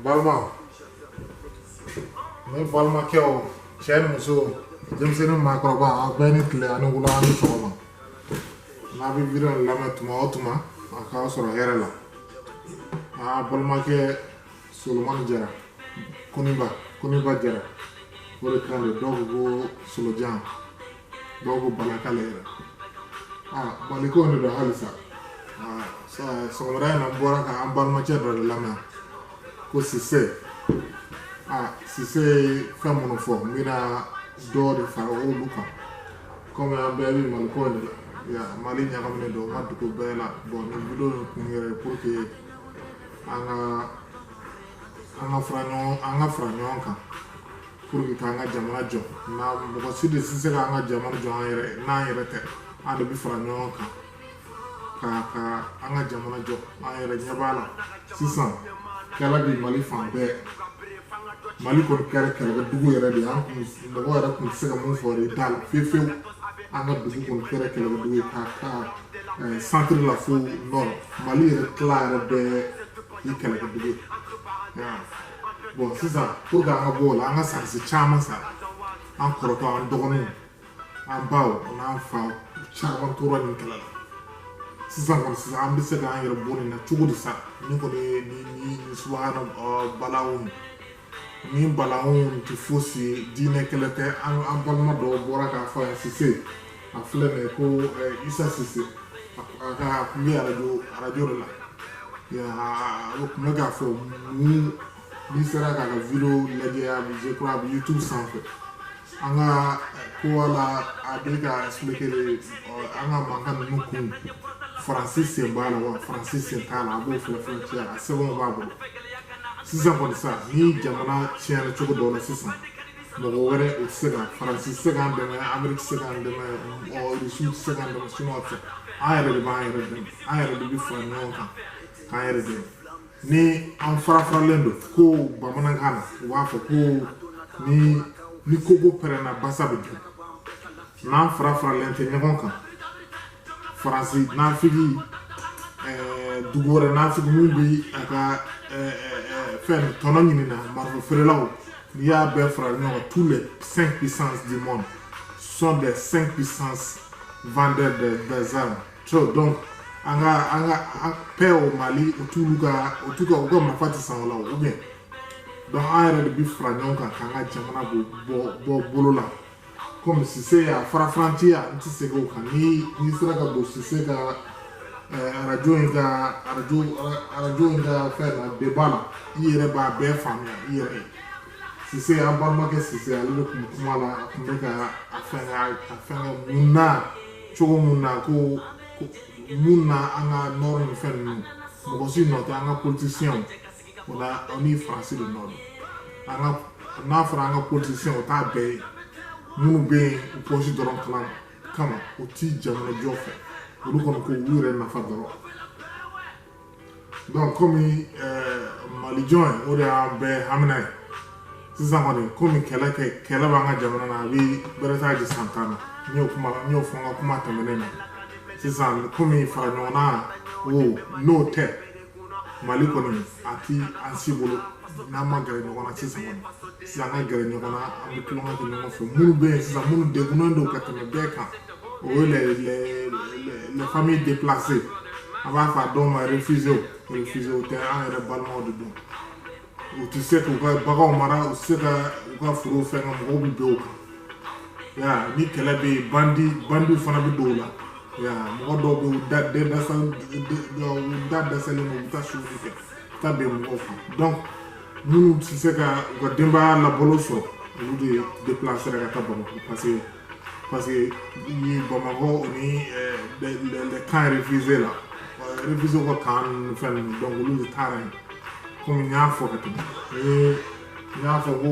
balima ne balimakɛw cɛ ni muso denmisɛnnin maakɔrɔba a bɛɛ ni tile a ni wula a ni sɔgɔma n'a bɛ video lamɛn tuma o tuma a k'a sɔrɔ hɛrɛ la aw balimakɛ solomani jara koniba koniba jara o de kan de dɔw ko ko solojan dɔw ko bana k'ale yɛrɛ aa malikow de don halisa sɔgɔmada in na n bɔra ka an balimacɛ dɔ de lamɛn ko sise aa sise ye fɛn minnu fɔ n bɛna dɔw de fara olu kan kɔmi an bɛɛ bɛ malikow de la ya mali ɲagaminen don ka dugu bɛɛ la bon nin video in kun yɛrɛ ye pour que an ka an ka fara ɲɔgɔn an ka fara ɲɔgɔn kan pour que an ka jamana jɔ na mɔgɔ si de tɛ se k'an ka jamana jɔ an yɛrɛ n'an yɛrɛ tɛ an de bɛ fara ɲɔgɔn kan ka ka an ka jamana jɔ an yɛrɛ ɲɛ b'a la sisan kɛlɛ bɛ mali fan bɛɛ mali kɔni kɛra kɛlɛkɛdugu yɛrɛ de ye an kun mɔgɔ yɛrɛ kun tɛ se ka mun fɔ de t'a la fiyewu fiyewu an ka dugu kɔni kɛra kɛlɛkɛdugu ye ka ka centre la fo nord mali yɛrɛ tila yɛrɛ bɛɛ ye kɛlɛkɛdugu ye bon sisan pour que an ka bɔ o la an ka sɔrɔdasi caman sara an kɔrɔ dɔw an dɔgɔninw an baw n'an fa caman tora nin kɛlɛ la sisan kɔni sisan an bɛ se k'an yɛrɛ bɔ nin na cogo di sa ni kɔni ye ni ni ni subahana balawu nin balawu tɛ fosi ye diinɛ kɛlɛ tɛ an an balima dɔw bɔra k'a fɔ yan sise a filɛ nin ye ko eh, isa sise a ka kun bɛ arajo arajo de la a bɛ kun bɛ k'a fɔ mun n'i sera k'a ka video lajɛ a bɛ je crois a bɛ youtube sanfɛ an ka eh, ko wala a bɛ k'a expliquer de eh, an ka mankan ninnu kun faransi sen b'a la wa faransi sen t'a la a b'o filɛ filɛ cɛ a sɛbɛnw b'a bolo sisan kɔni sa ni jamana tiɲɛna cogo dɔ la sisan mɔgɔ wɛrɛ o tɛ se ka faransi tɛ se k'an dɛmɛ ameriki tɛ se k'an dɛmɛ rusi tɛ se k'an dɛmɛ siniwaw tɛ an yɛrɛ de b'an yɛrɛ dɛmɛ an yɛrɛ de bɛ fara ɲɔgɔn kan k'an yɛrɛ dɛmɛ ni an farafaralen don ko bamanankan na u b'a fɔ ko ni ni kogo pɛrɛnna basa bɛ don n'an fara faralen tɛ ɲɔgɔn kan faransi nafigi eh, dugu wɛrɛ nafigi min bɛ a ka eh, eh, fɛn tɔnɔ ɲinina marifa feerelaw n'i y'a bɛɛ fara ɲɔgɔn kan tous les cinq puissances du monde sont des cinq puissances vendeurs de des armes so donc an ka an ka paix au mali o t'olu ka o t'u ka u ka marifa tɛ san o la ou bien donc an yɛrɛ de bɛ fara ɲɔgɔn kan k'an ka jamana bɔ bɔ bolo la kɔmi sise y'a farafarantiya n tɛ segin o kan ni n'i sera ka don sise ka arajo in ka arajo arajo in ka fɛn na débat la i yɛrɛ b'a bɛɛ faamuya i yɛrɛ ye sise an balimakɛ sise ale de tun kuma la a tun bɛ ka a fɛn a fɛn mun na cogo mun na ko mun na an ka nord ni fɛn ninnu mɔgɔ si nɔ tɛ an ka politisiyɛnw o la o ni faransi de nɔ don an ka n'a fɔra an ka politisiyɛn o t'a bɛɛ ye minnu bɛ yen u pɔsi dɔrɔn kama u ti jamanajɔ fɛ olu kɔni ko u yɛrɛ nafa dɔrɔn donc komi malijɔ ye o de y'an bɛɛ hamina ye sisan kɔni komi kɛlɛ kɛ kɛlɛ b'an ka jamana na a bɛ bɛrɛ t'a jɛ san tan na n y'o kuma n y'o fɔ n ka kuma tɛmɛnen na sisan komi fara ɲɔgɔn na o n'o tɛ mali kɔni a ti an si bolo n'an ma gɛrɛ ɲɔgɔn na sisan kɔni sisan an ka gɛrɛ ɲɔgɔn na an bɛ tulonkɛ kɛ ɲɔgɔn fɛ minnu bɛ yen sisan minnu degunnen don ka tɛmɛ bɛɛ kan o ye les les les familles déplacées an b'a fɔ a dɔw ma réfugiés réfugiés tɛ an yɛrɛ balimaw de don u tɛ se k'u ka baganw mara u tɛ se ka u ka foro fɛn ka mɔgɔw bɛ bɛn u kan ni kɛlɛ bɛ yen bandi bandiw fana bɛ don o la ya mɔgɔ dɔw bɛ u da den dɛsɛ u da dɛsɛlen don u bɛ taa suɲɛni kɛ ka bɛn mɔgɔw kan donc minnu tɛ se ka u ka denbaya labalo sɔrɔ olu de déplacer ka taa Bamakɔ parce que parce que ye bamakɔ o ni les camps réfugiés la réfugiés ka camp fɛn ninnu donc olu de taara yen komi n y'a fɔ ka tɛmɛ ni n y'a fɔ ko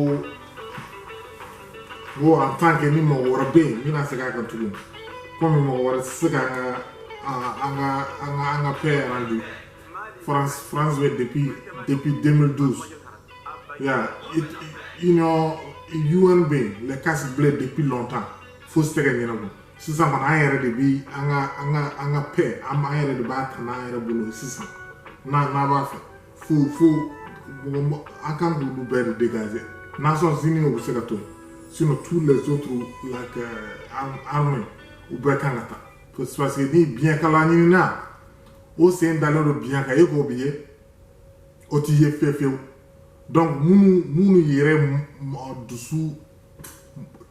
ko en tant que ni mɔgɔ wɛrɛ bɛ yen n bɛna segin a kan tuguni komi mɔgɔ wɛrɛ tɛ se ka an ka an ka an ka an ka paix rendu France France bɛ depuis depuis 2012 Yeah, it, it, you know, UN bɛ yen les casques bleus depuis longtemps fosi tɛ ka ɲɛnabɔ sisan kɔni an yɛrɛ de bi an ka an ka an ka paix an an yɛrɛ de b'a ta n'an yɛrɛ bolo sisan n'an n'an b'a fɛ fo fo mɔgɔ an kan k'olu bɛɛ de dégager nations unies o bɛ se ka to yen sinon tous les autres like uh, armées u bɛɛ kan ka taa parce que ni biɲɛkala ɲininna o sen dalen don biɲɛ kan e k'o bi ye o ti ye fiyewu fiyewu donc minnu minnu yɛrɛ dusu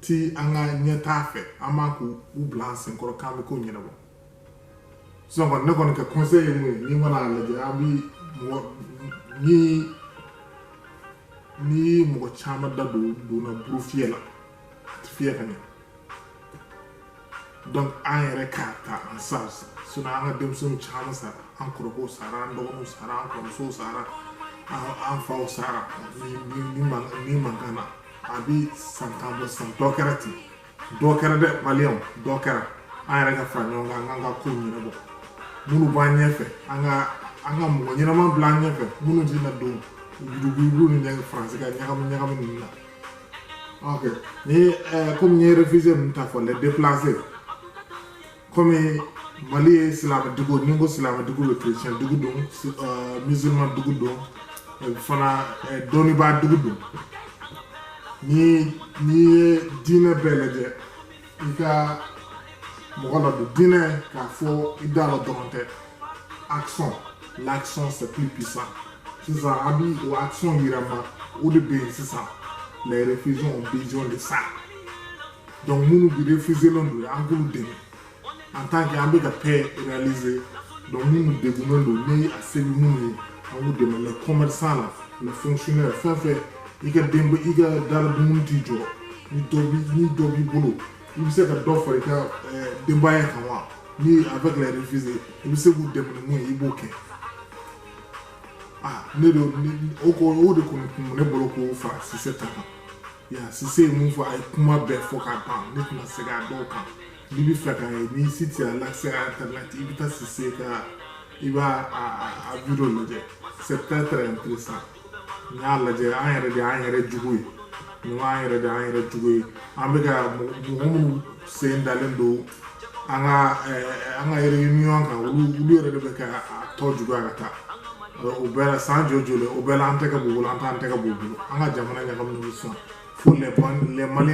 ti an ka ɲɛtaa fɛ an man kan k'u u bila an senkɔrɔ k'an bɛ ko ɲɛnabɔ sisan kɔni ne kɔni ka conseil ye mun ye n'i mana lajɛ an bi mɔgɔ ni ni mɔgɔ caman da don donna buru fiyɛ la a tɛ fiyɛ ka ɲɛ donc an yɛrɛ k'a ta en charge sinon an ka denmisɛnninw caman sara an kɔrɔkɛw sara an dɔgɔninw sara an kɔrɔmusow sara an faw sara nin mankan na a bi san tan bɔ san dɔ kɛra ten dɔ kɛra dɛ maliyɛnw dɔ kɛra an yɛrɛ ka fara ɲɔgɔn kan an k'an ka kow ɲɛnabɔ minnu b'an ɲɛfɛ an ka an ka mɔgɔ ɲɛnama bila an ɲɛfɛ minnu tɛna don yurugu yurugu ni faransi ka ɲagami ɲagami ninnu na ok ni eh, comme n ye réfugié ninnu ta fɔ les déplacés comme mali ye silama dugu ni n ko silama dugu bɛ chrétien dugu don eh, musulman dugu don eh, fana dɔnnibaa dugu don n'i n'i ye diinɛ bɛɛ lajɛ i ka mɔgɔ ladon diinɛ k'a fɔ i da la dɔrɔn tɛ action l'action c'est plus puissant sisan an bi o action yirama o de bɛ yen sisan les réfugiés ont besoin de ça donc minnu bi réfugié len don an k'olu dɛmɛ en tant que an bɛ ka paix réaliser donc minnu degunnen don ni a se bɛ minnu ye an b'u dɛmɛ les commerçants la les fonctionnaires fɛn o fɛn i ka denba i ka dala dumuni t'i jɔ ni dɔ bi ni dɔ b'i bolo i bɛ se ka dɔ fara i ka eh, denbaya kan wa ni avec les réfugiés i bɛ se k'u dɛmɛ ni mun ye i b'o kɛ ah ne de o ko o de kɔni kun bɛ ne bolo k'o fara Sise ta kan ya Sise ye mun fɔ a ye kuma bɛɛ fɔ ka ban ne tɛna segin a dɔw kan. N'i b'a fɛ k'a ye n'i si tu as l'accès internet i bɛ taa Sise ka i b'a a a a vidéo lajɛ c'est très très intéressant n y'a lajɛ an yɛrɛ de y'an yɛrɛ jugu ye nin y'an yɛrɛ de y'an yɛrɛ jugu ye an bɛ ka mɔgɔ mɔgɔ minnu sen dalen don an ka ɛɛ an ka réunion kan olu olu yɛrɛ de bɛ ka a tɔ juguya ka taa o bɛɛ la san joli joli o bɛɛ la an tɛgɛ b'u bolo an t'an tɛgɛ b'u bolo an ka jamana ɲagaminen don sisan Fo le mali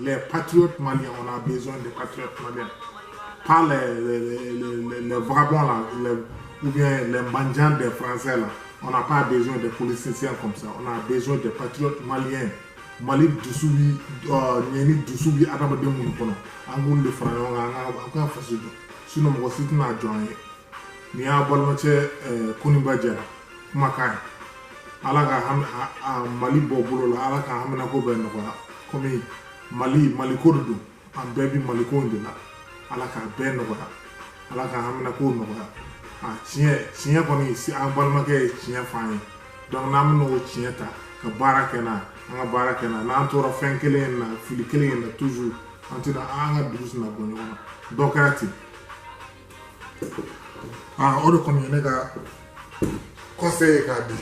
le pati mali kɔnɔ bɛ de pati mali pa vbɔ la u bɛ manjan de faransɛ la o k'a bɛ de poli sinsiya kɔmisa o bɛ de pati mali mali dusu ɲ ni dusu bɛ adamadamaden minnu kɔnɔ an b'u de fara ɲɔgɔn kan an ka faso don sunmɔgɔ si tɛna' jɔn ye nin y'a balimacɛ koba jɛra kumakan ye ala ka mali bɔ bolo la ala ka haminako bɛɛ nɔgɔya komi mali maliko de don an bɛɛ bi maliko de la ala ka bɛɛ nɔgɔya ala ka haminako nɔgɔya a tiɲɛ tiɲɛ kɔni an balimakɛ ye tiɲɛ f'an ye donc n'an bɛna o tiɲɛ ta ka baara kɛ n'a an ka baara kɛ n'a n'an tora fɛn kelen in na fili kelen in na toujours an tɛna an ka dugu tɛna bɔ nɔgɔ la dɔ kɛra ten ah o de kɔni ye ne ka conseil ye k'a di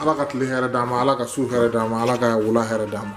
ala ka tile hɛrɛ d'a ma ala ka su hɛrɛ d'a ma ala ka wula hɛrɛ d'a ma